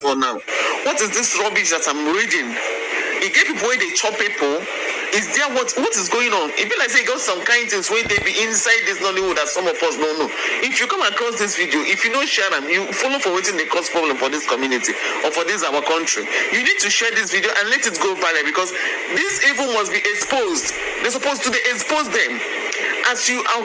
for now what is this rubbish that I'm reading e get people wey dey chop people is there what what is going on e be like say e got some kind things wey dey be inside this Nollywood that some of us no know if you come across this video if you no share am you follow for wetin dey cause problem for this community or for this our country you need to share this video and let it go viral because this evil must be exposed they suppose to dey expose them as you are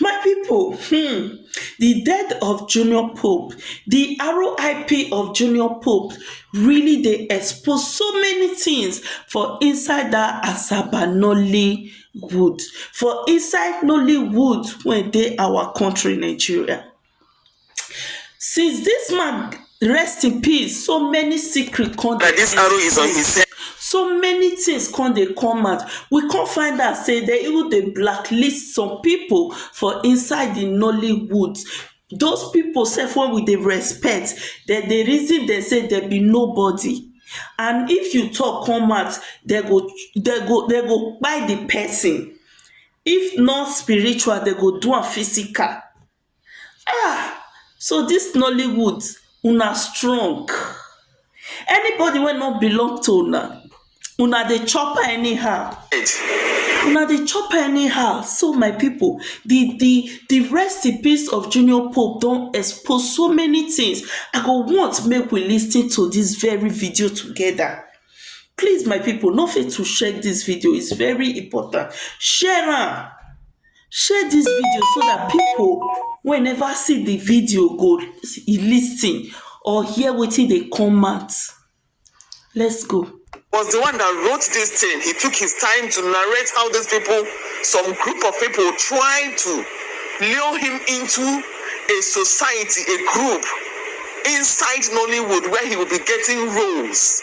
my pipo um di death of junior pope di RIP of junior pope really dey expose so many tins for inside dat asaba nollywood for inside nollywood wey dey our kontri nigeria Since this man rest in peace, so many secret come dey this arrow is on his head. So many things come dey come out. We come find out say they even dey blacklist some people for inside the Nollywood. Those people self wey we dey respect, dem dey reason dem say dem be nobody. And if you talk come out, dem go dem go dem go kpai the person. If not spiritual, dem go do am physical. Ahh so this nollywood una strong anybody wey no belong to una una dey chop her anyhow una dey chop her anyhow so my people the the the rest in peace of junior pope don expose so many things i go want make we lis ten to this very video together please my people no fail to share this video is very important share am Share dis video so dat pipo wey neva see di video go listen or hear wetin dey come out. Let's go. was the one that wrote this thing. He took his time to narrate how these people, some group of people, tried to lure him into a society, a group inside Nollywood where he will be getting roles.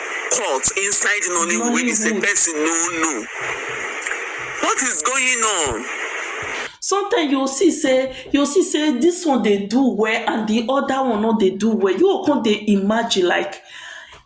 court inside Nollywood wey be say Nollywood. person no know. What is going on? Sometimes you go see sey, you go see sey dis one dey do well and di oda one no dey do well, you go come dey imagine like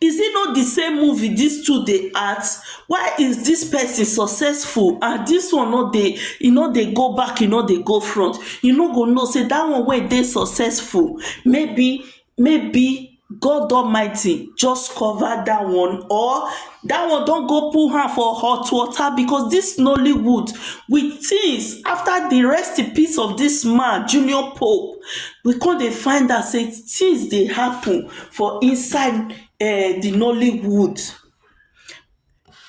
is it not di same movie dis two dey act, why is dis person successful and dis one no dey, e no dey go back, e no dey go front, you no go know sey dat one wey dey successful maybe maybe God Almighty just cover that one or that one don go put hand for hot water because this Nollywood we things after the rest in peace of this man Junior Pope we come dey find out say things dey happen for inside um the Nollywood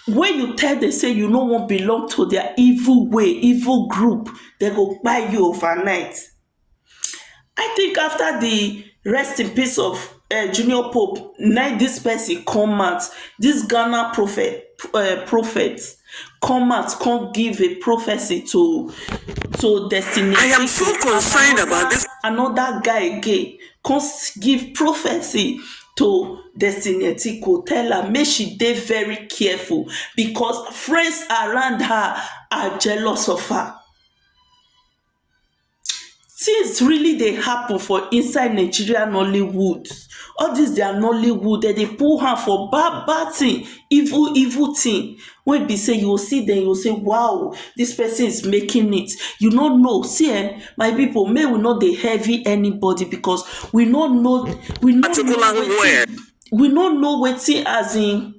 when you tell them say you no wan belong to their evil way evil group dem go kpai you overnight I think after di rest in peace of um junior pope na im dis person come out dis Ghana prophet um prophet come out come give a prophecy to to destiny another guy again come give prophecy to destiny etiko tell am make she dey very careful because friends around her are jealous of her Tins really dey happen for inside Nigeria Nollywood, all dis dia Nollywood dem dey put hand for bad bad tin, evil evil tin wey be sey you go see dem you go sey waoh dis person is making it, you no know see um my pipu make we no dey heavy anybody becos we no know we no know wetin. we no know wetin as in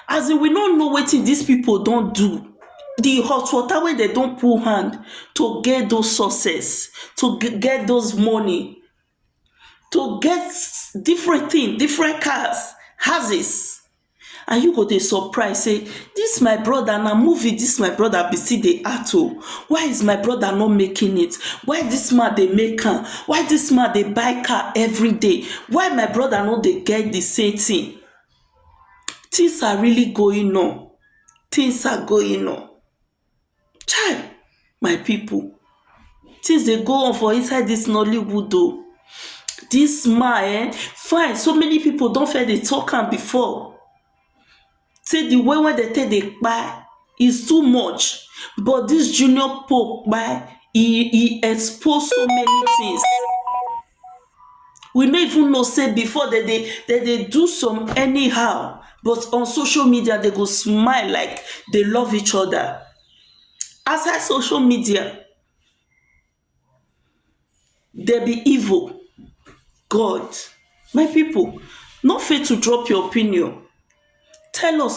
as in we no know wetin dis pipu don do di hot water wey dem don put hand to get those success to get those money to get different tin different cars houses and you go dey surprise sey This my brother na movie this my brother be still dey act o why is my brother not making it why this man dey make am why this man dey buy car everyday why my brother no dey get the same thing things are really going on things are going on Chai! my pipu things dey go on for inside dis nollywood oh, dis man ehn fine so many pipu don first dey talk am before sey de way wey dem take dey kpai is too much but dis junior pope kpai e e expose so many things. we no even know say before dem dey dem dey do some anyhow but on social media dem go smile like dey love each oda outside social media dem be evil god my pipo no fail to drop your opinion tell us.